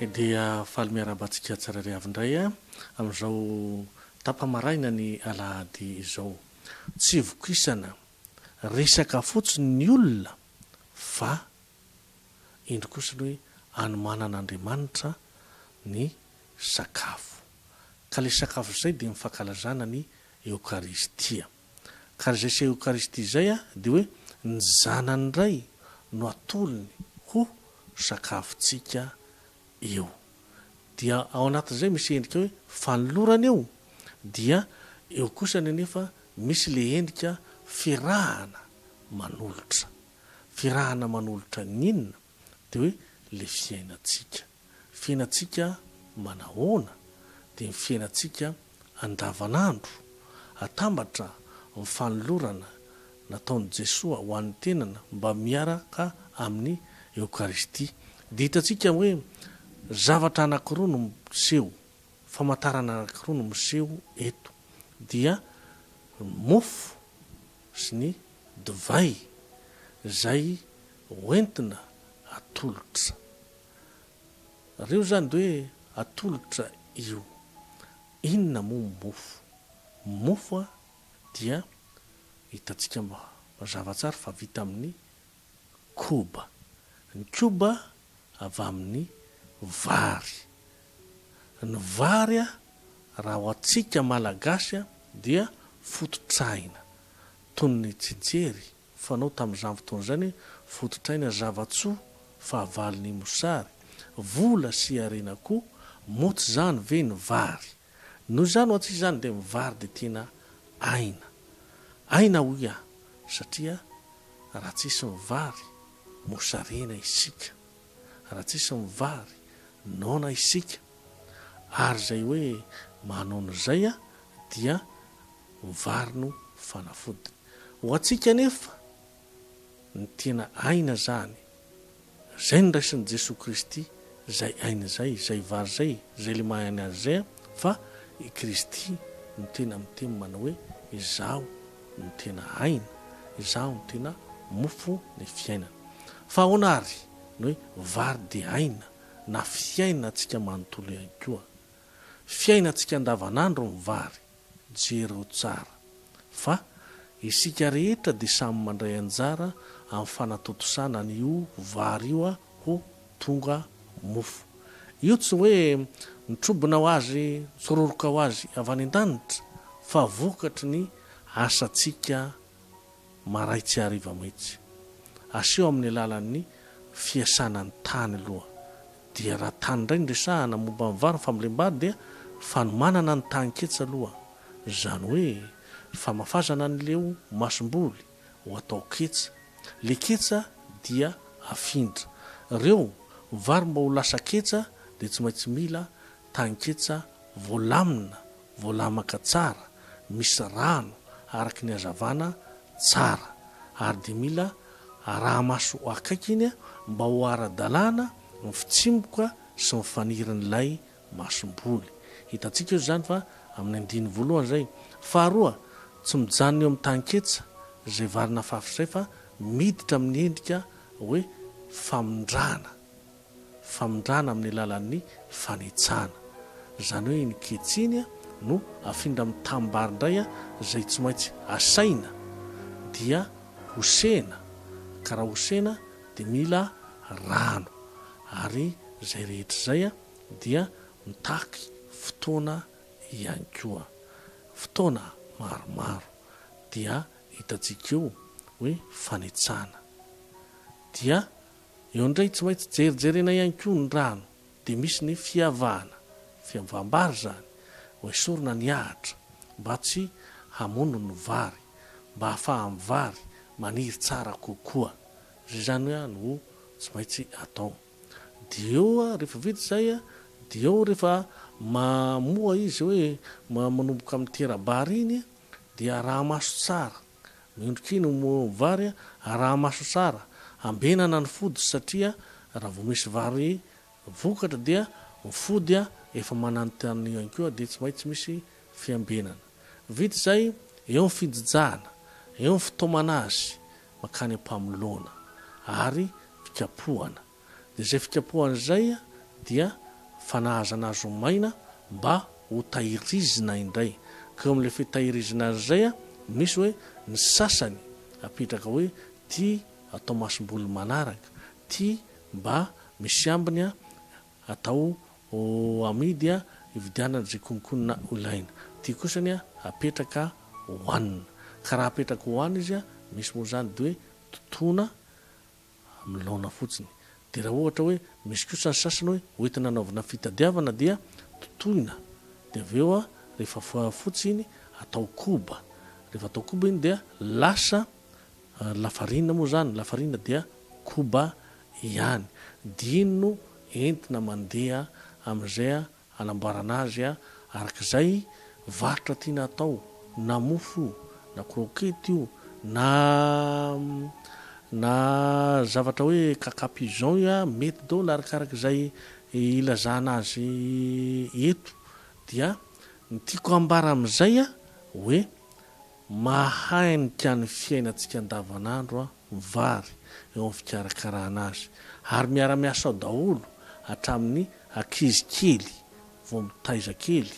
Dia faly miarahaba antsika tsirairay avy indray amin'izao tapa-maraina ny alahady izao. Tsy vokisana resaka fotsiny ny olona fa indro kosa ny hoe anomanan'Andriamanitra ny sakafo. Ka ilay sakafo izay dia ny fankalazana ny eokaristia. Ka ary izay seho Eucharistie izay dia hoe ny Zanany Ray no atolony ho sakafontsika eo. Dia ao anatin'izay misy endrika hoe fanolorana eo, dia eo kosa nenefa misy ilay endrika firahana manolotra. Firahana manolotra ny inona? dia hoe ilay fiainantsika. Fiainantsika manahoana? Dia ny fiainantsika andavanandro. Atambatra ny fanolorana nataon'i Jesoa ho an'ny tenany mba miaraka amin'ny Eokaristia. Dia hitantsika hoe zavatra anankiroa no miseho, famantarana anankiroa no miseho eto. Dia ny mofo. sy ny divay izay hoentina atolotra. Reo zany de hoe atolotra io. Inona moa ny mofo? Mofo dia hitantsika mazava tsara fa vita amin'ny koba. Ny koba avy amin'ny vary. Ny vary raha ho antsika Malagasy dia fototr'aina. Toy ny tsijiery fanao tamin'izany fotoana izany hoe fototr'aina zava-tsoa fahavalon'ny mosary. Vola sy harena koa. Moa tsy izany ve ny vary? Noho izany ho antsika izany dia mivary dia tena aina. Aina hoy aho satria raha tsisy ny vary mosarena isika, raha tsisy ny vary noana isika ary izay hoe manoana izay dia ny vary no fanafodiny. Ho antsika anefa. ny tena aina zany, zay niraisin'i Jesoa Kristy zay aina zay, zay vary zay, zay le maha aina azy zay an, fa i Kristy no tena miteny manao hoe izaho no tena aina, izaho no tena mofo ny fiainana. Fa ahoana ary ny hoe vary dia aina na fiainantsika manontolo ihany koa? Fiainantsika andavanandro ny vary. Jereo tsara fa isika rehetra dia samy mandray anjara amin'ny fanatontosana an'io vary io ho tonga mofo. Io tsy hoe mitrobona ho azy, mitsororoka ho azy avy any an-danitra fa vokatry ny asantsika maray tsy hariva mihitsy. Aseho amin'ny alalan'ny fiasana ny tany aloha. Dia raha tany indray no resahana momba ny vary, ny fambolem-bary dia fanomanana ny tany ketsy aloha. Izany hoe famafazana an'ileo masomboly ho atao ketsa. Ilay ketsa dia afindra. Reo vary mba ho lasa ketsa dia tsy maintsy mila Tanketsa voalamina, voalamaka tsara, misy rano araka ny hazavana tsara ary dia mila araha-maso akaiky iny mba ho ara-dalàna ny fitsimboka sy ny fanirin'ilay masomboly. Hitantsika eo izany fa amin'ny andininy voalohany izay. Faharoa, tsy mijanona eo amin'ny tanketsa izay vary nafafy izay fa miditra amin'ny endrika hoe famindrana. famindrana amin'ny alalan'ny fanitsahana. Izany hoe iny kitsy iny no afindra amin'ny tanimbary indray izay tsy maintsy asaina dia hosehina ka raha hosehina dia mila rano ary izay rehetra izay dia mitaky fotoana ihany koa. Fotoana maromaro dia hitantsika eo hoe fanitsahana dia. Eo ndray tsy maintsy jerijerena ihany koa ny rano dia misy ny fiavahana, fiavaham-bary izany, hoesorina ny ahitra mba tsy hamono ny vary, mba hafahan'ny vary maniry tsara kokoa. Izay izany no tsy maintsy atao. Dia eo rehefa vita izay dia eo rehefa mamoa izy hoe manomboka amin'ny tera-bary iny dia araha-maso tsara. Miondrika iny ny vary araha maso tsara, ambenana ny fody satria raha vao misy vary vokatra dia ny fody efa mananontanona ihany koa dia tsy maintsy misy fiambenana. Vita izay, eo ny fijijahana, eo ny fitaomana azy mankany am-pamoloana ary fikapohana. dia izay fikapohana izay dia fanahazana azy ho maina mba ho tahirizina indray. Ka eo amin'ilay fitahirizina azy izay, misy hoe ny sasany apetraka hoe ity atao masomboly manaraka, ity mba misy ambiny atao amidy hividianana izay konkonona ilaina, ity kosa apetraka hohanina. Ka raha apetraka hohanina izy, misy moa izany dia hoe totoina. amin'ny laona fotsiny. Dia raha ohatra hoe misy kosa ny sasany hoe hoentina hanaovana fitadiavana dia totoina dia avy eo rehefa fotsy iny atao koba, rehefa atao koba iny dia lasa lafarinina moa izany, lafarinina dia koba ihany. Dia iny no entina mandeha amin'izay Hanamboarana azy araka izay varotra tiana atao, na mofo io, na croquette io, na na zavatra hoe caca pigeon io, mety daholo arakaraka izay ilazana azy eto. Dia ny tiako ambara amin'izay hoe. Mahainika ny fiainantsika andavanandro ny vary eo amin'ny fikarakarana azy ary miara-miasa ao daholo hatramin'ny ankizy kely vao mitaiza kely,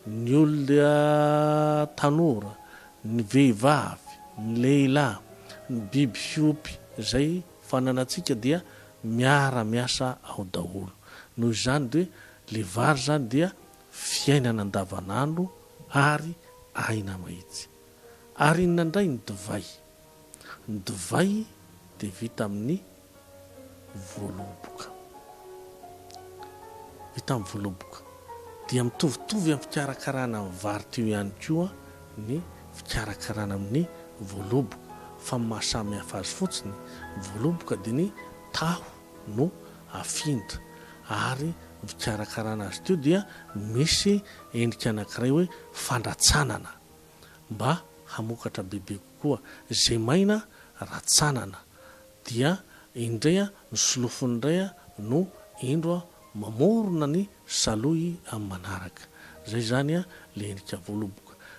ny olona tanora, ny vehivavy, ny lehilahy, ny biby fiompy izay fananantsika dia miara-miasa ao daholo. Noho izany dia ilay vary izany dia fiainana andavanandro ary aina mahitsy. Ary inona indray ny divay? Ny divay dia vita amin'ny voaloboka. Vita amin'ny voaloboka. Dia mitovitovy amin'ny fikarakarana amin'ny vary teo ihany koa ny fikarakarana amin'ny voaloboka. Fa ny maha samy hafa azy fotsiny, ny voaloboka dia ny taho no afind ary ny fikarakarana azy ity dia misy endrika anankiray hoe fandratsanana mba hamokatra bebe kokoa izay maina ratsanana dia indray ny solofony indray no indro mamorona ny saloy amin'ny manaraka izay izany ilay endrika voaloboka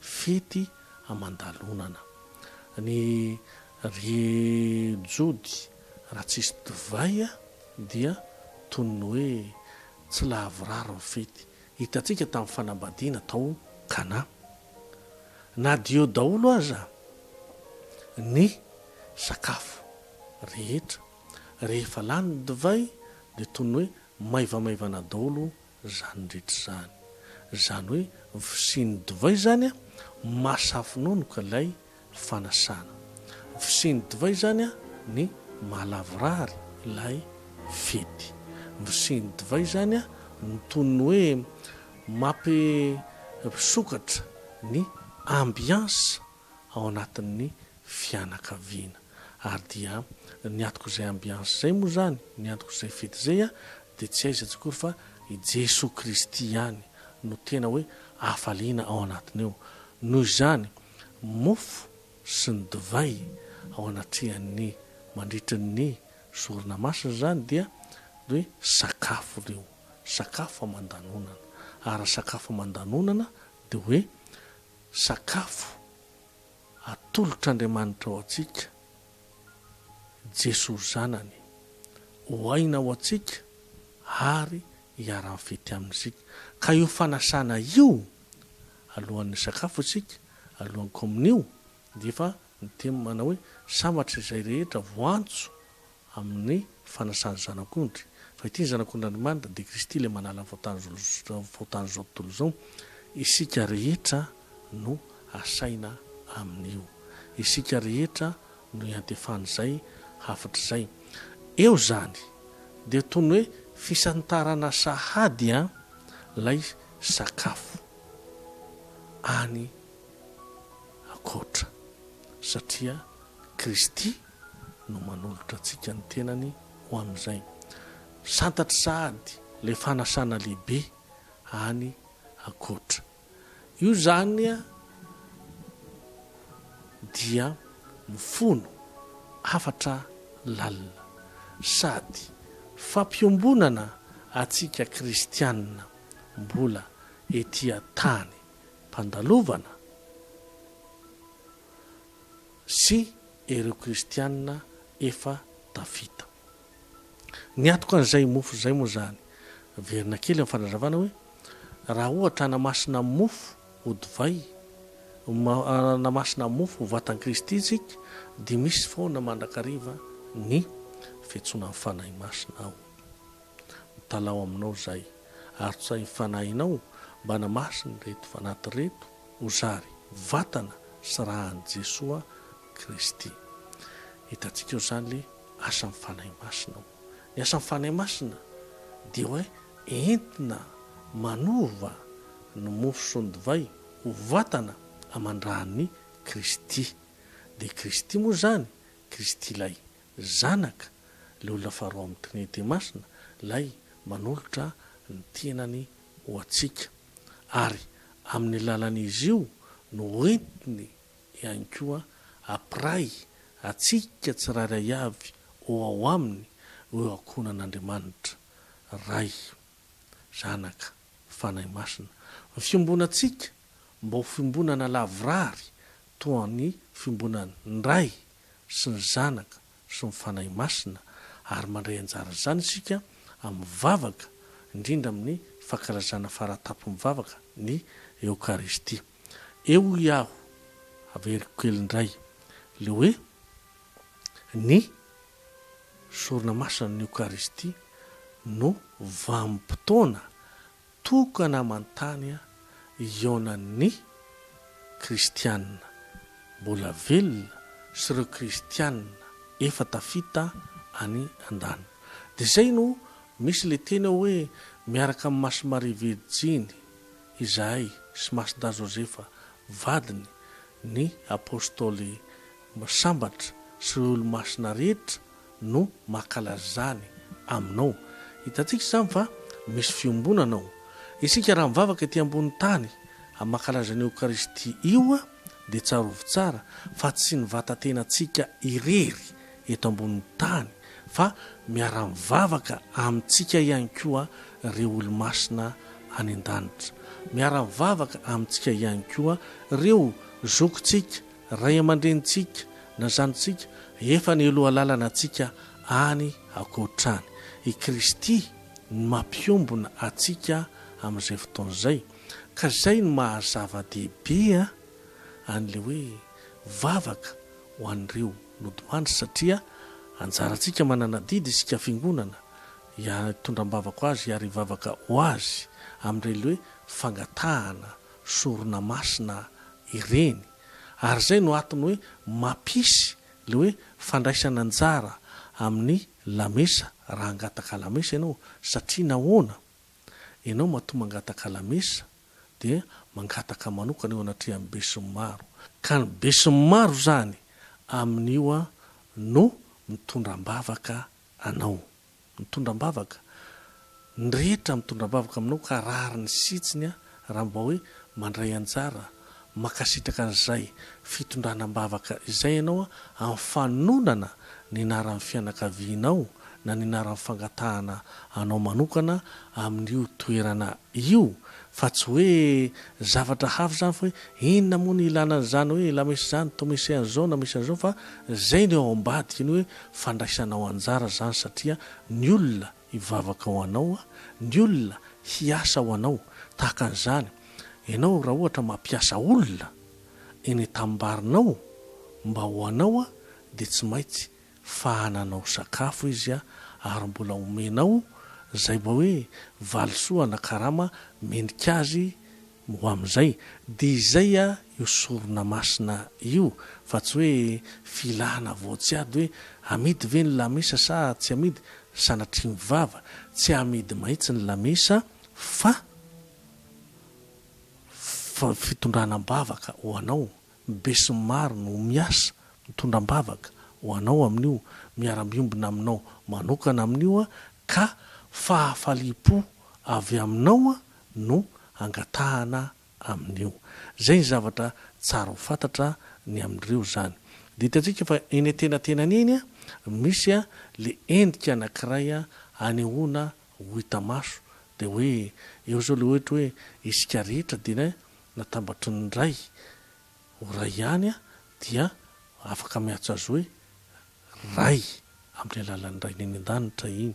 Fety aman-dalonana. Ny ry Jody raha tsisy divay dia toy ny hoe tsy lavorary ny fety. Hitantsika tamin'ny fanambadiana tao Kana. Na dia eo daholo aza ny sakafo rehetra, rehefa lany ny divay dia toy ny hoe maivamaivana daholo izany rehetra izany. Izany hoe ny fisian'ny divay izany mahasafononoka ilay fanasana. Ny fisian'ny divay izany ny mahalavorary ilay fety. Ny fisian'ny divay izany no toy ny hoe mampisokatra ny ambiance. ao anatin'ny fianakaviana. Ary dia ny antokon'izay ambiansy izay moa izany, ny antokon'izay fety izay dia tsy aiza tsy akory fa i Jesoa Kristy ihany no tena hoe hafaliana ao anatiny ao. Noho izany, mofo sy ny divay ao anatrehan'ny mandritra ny Sorona Masina izany dia hoe sakafo ireo, sakafo aman-danonana. Ary raha sakafo aman-danonana dia hoe Sakafo atolotr'Andriamanitra ho antsika, Jesoa Zanany, ho aina ho antsika ary hiara-mifety Aminy isika. Ka io fanasana io, alohan'ny sakafo isika, alohan'ny Kaominio, dia efa niteny manao hoe, Sambatra izay rehetra voantso amin'ny fanasan' ny Zanak' ondry, fa ity ny Zanak' ondr' Andrimanitra, dia Kristy ilay manala ny fahotan' izao tontolo izao, isika rehetra no asaina amin' io, isika rehetra no iantefan' izay hafatra izay. Eo izany, dia toy ny hoe fisantarana sahady an' ilay sakafo any an-koatra, satria Kristy no manolotra antsika ny tenany ho amin'izay. Santatry sahady ilay fanasana lehibe any ankoatra. Io izany dia mifono hafatra lalina sady fampiombonana antsika kristiana mbola ety an-tany mpandalovana. sy ireo kristiana efa tafita. Niatoka an'izay mofo izay moa izany, averina kely amin'ny fanazavana hoe, raha ohatra hanamasina mofo ho divay, hanamasina mofo ho vatan'i Kristy isika, dia misy foana mandrakariva ny fiantsoanan'ny Fanahy Masina ao. Mitalaho aminao izay, ary tsahin'ny Fanahinao mba hanamasina ireto fanaty ireto, ho zary vatana sy ran'i Jesoa Kristy. Hitantsika ao izany ilay asan'ny Fanahy Masina. Ny asan'ny Fanahy Masina dia hoe entina manova ny mofo sy ny divay ho vatana aman-dRan'i Kristy. Dia Kristy moa izany, Kristy ilay Zanaka, ilay olona faharoa amin'ny Trinite Masina, ilay manolotra ny tenany ho antsika. ary amin'ny lalan'izy io no entiny ihany koa apiray antsika tsirairay avy ho ao aminy io ankohonan'Andriamanitra Ray, Zanaka, Fanahy Masina. Ny fiombonantsika mba ho fiombonana lavorary toa ny fiombonan'ny Ray sy ny Zanaka sy ny Fanahy Masina, ary mandray anjara izany isika amin'ny vavaka, indrindra amin'ny fankalazana fara-tampon'ny vavaka, ny Eokaristia. Eo hoy aho, averiko kely indray, ilay hoe ny sorona masinan'ny Eokaristia no vanim-potoana tokana aman-tany hihaonan'ny Kristianina mbola velona sy ireo Kristianina efa tafita any an-danitra. Dia izay no misy ilay teny ao hoe, Miaraka amin'i Masy Maria Virjiny izahay sy Masy Dahy Joseph vadiny, ny Apostoly sambatra sy ireo Olomasina rehetra no makala izany aminao. Hitantsika izany fa misy fiombonana ao. Isika raha mivavaka ety ambony tany amin'ny mankalazana ny Eokaristia io dia tsarovy tsara fa tsy ny vatan-tenantsika irery eto ambony tany fa miara-mivavaka amintsika ihany koa ireo Olomasina any an-danitra. Miara-mivavaka amintsika ihany koa ireo zokintsika Ray aman-drenintsika na zanatsika efa nialoha lalana antsika any ankoatrany. I Kristy no mampiombona antsika amin'izay fotoana izay. Ka izay no maha zava-dehibe an'ilay hoe vavaka ho an'ireo nodimandry satria anjarantsika manana adidy isika fiangonana hitondra am-bavaka ho azy ary hivavaka ho azy amin'ireny hoe fangatahana sorona masina ireny ary izay no atony hoe mampisy le hoe fandraisana anjara amin'ny lamesa raha hangataka lamesa ianao satria nahoana? ianao matoa mangataka lamesa dia mangataka manokana eo anatrehan'ny besinimaro ka ny besinimaro izany amin'io no mitondra am-bavaka anao. Mitondra am-bavaka. Ny rehetra mitondra am-bavaka aminao ka rariny sy hitsiny aho raha mba hoe mandray anjara. Mankasitraka an'izay fitondrana am-bavaka izay ianao amin'ny fanonana ny anaran'ny fianakavianao na ny anaran'ny fangatahana anao manokana amin'io toerana io Fa tsy hoe zavatra hafa izany fa hoe inona moa ny ilana an'izany hoe la messe izany, to messe an'izao na messe an'izao fa izay no eo ambadika ny hoe fandraisanao anjara izany satria ny olona hivavaka ho anao, ny olona hiasa ho anao tahaka an'izany ianao raha ohatra mampiasa olona eny an-tamimbarinao mba ho anao dia tsy maintsy fa hananao sakafo izy ary mbola homenao izay mba hoe valisoa na karama mendrika azy ho amin'izay. Dia izay io sorona masina io fa tsy hoe filana voatsiady hoe amidy ve ny lamesa sa tsy amidy, sanatria ny vava, tsy amidy mahitsy ny lamesa fa fitondrana am-bavaka ho anao Ny besinimaro no miasa, mitondra am-bavaka, ho anao amin'io, miara-miombona aminao manokana amin'io aho, ka fahafaliam-po avy aminao no angatahana amin'io. Izay ny zavatra tsara ho fantatra ny amin'ireo izany. Dia hitantsika fa eny an-tenatenany eny, misy ilay endrika anankiray hanehoana ho hita maso, dia hoe eo izao ilay ohatra hoe isika rehetra dia Natambatry ny ray ho ray ihany aho dia afaka miantso azy hoe Ray amin'ny alalan'ny Rainy any an-danitra iny.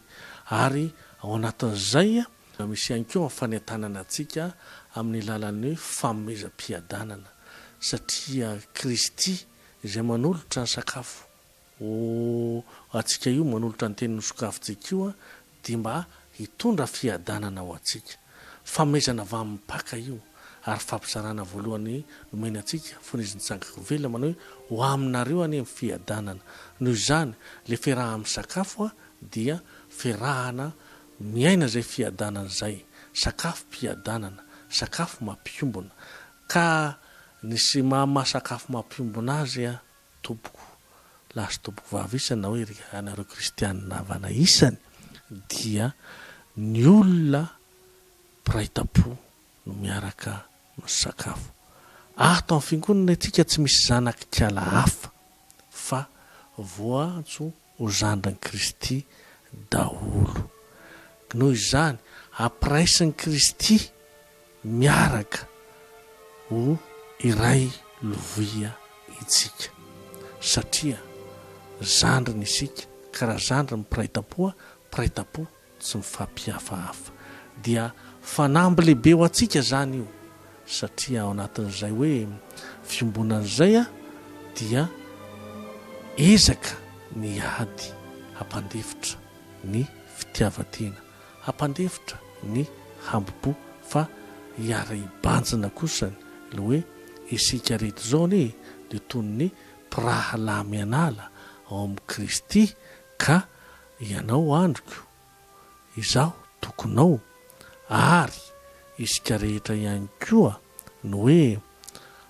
Ary ao anatin'izay misy ihany koa ny fanentanana antsika amin'ny alalan'ny hoe fanomezam-piadanana satria Kristy izay manolotra ny sakafo Ho antsika io manolotra ny teny nosokafy JQ dia mba hitondra fiadanana ho antsika. Fanomezana avy amin'ny Mpaka io ary fampizarana voalohany nomena antsika fony izy nitsangako velona manao hoe ho aminareo anie ny fiadanana. Noho izany, ilay fiarahana misakafo dia fiarahana miaina izay fiadanana izay. Sakafom-piadanana, sakafo mampiombona. Ka nisy maha-sakafo mampiombona azy Tompoko lahy sy tompoko vavy isany hoe ry anareo kristianina havana isany dia ny olona mpiray tampo no miaraka misakafo. Ato amin'ny fingonana itsika tsy misy zanak'ikala hafa fa voantso ho zandrin'i Kristy daholo. Noho izany, ampiraisin'i Kristy miaraka ho iray lovia intsika. Satria zandriny isika, ka raha zandry ny mpiray tampoha, mpiray tampo. Tsy mifampihafahafa. Dia fanamby lehibe ho antsika izany io, satria ao anatin'izay hoe fiombonana izay dia ezaka ny ady hampandefitra ny fitiavan-tena, hampandefitra ny hambo-po, fa hiara-hibanjina kosa ny ilay hoe isika rehetra izao anie dia toy ny mpirahalahy mianala ao amin'i Kristy Ka ianao andriko, izaho tokonao, ary isika rehetra ihany koa no hoe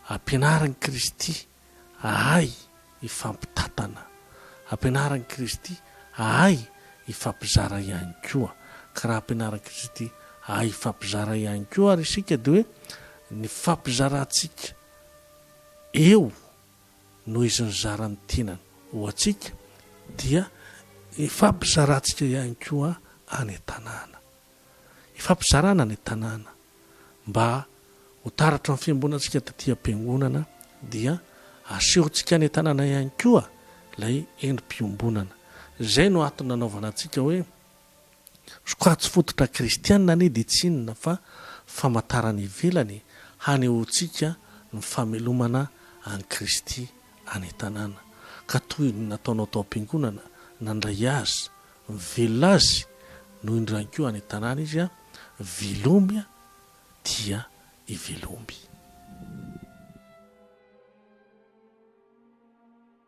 ampianarin'i Kristy ahay hifampitantana, ampianarin'i Kristy ahay hifampizara ihany koa. Ka raha ampianarin'i Kristy ahay hifampizara ihany koa ary isika dia hoe ny fifampizarantsika eo noho izy nizara ny tenany ho antsika dia ifampizarantsika ihany koa any an-tanàna. Ifampizarana any an-tanàna mba ho taratra ny fiangonantsika taty am-piangonana dia asehontsika any an-tanàna ihany koa ilay endri-piombonana. Izay no antony nanaovana antsika hoe Sokajy fototra kristiana anie dia tsy inona fa famantarana ivelany hanehoantsika ny famelomana an'i Kristy any an-tanàna, ka toy ny nataonao tao am-piangonana, nandray Azy, mivelona Azy, no indro ihany koa any an-tanàna Izy, velomy dia hivelomy.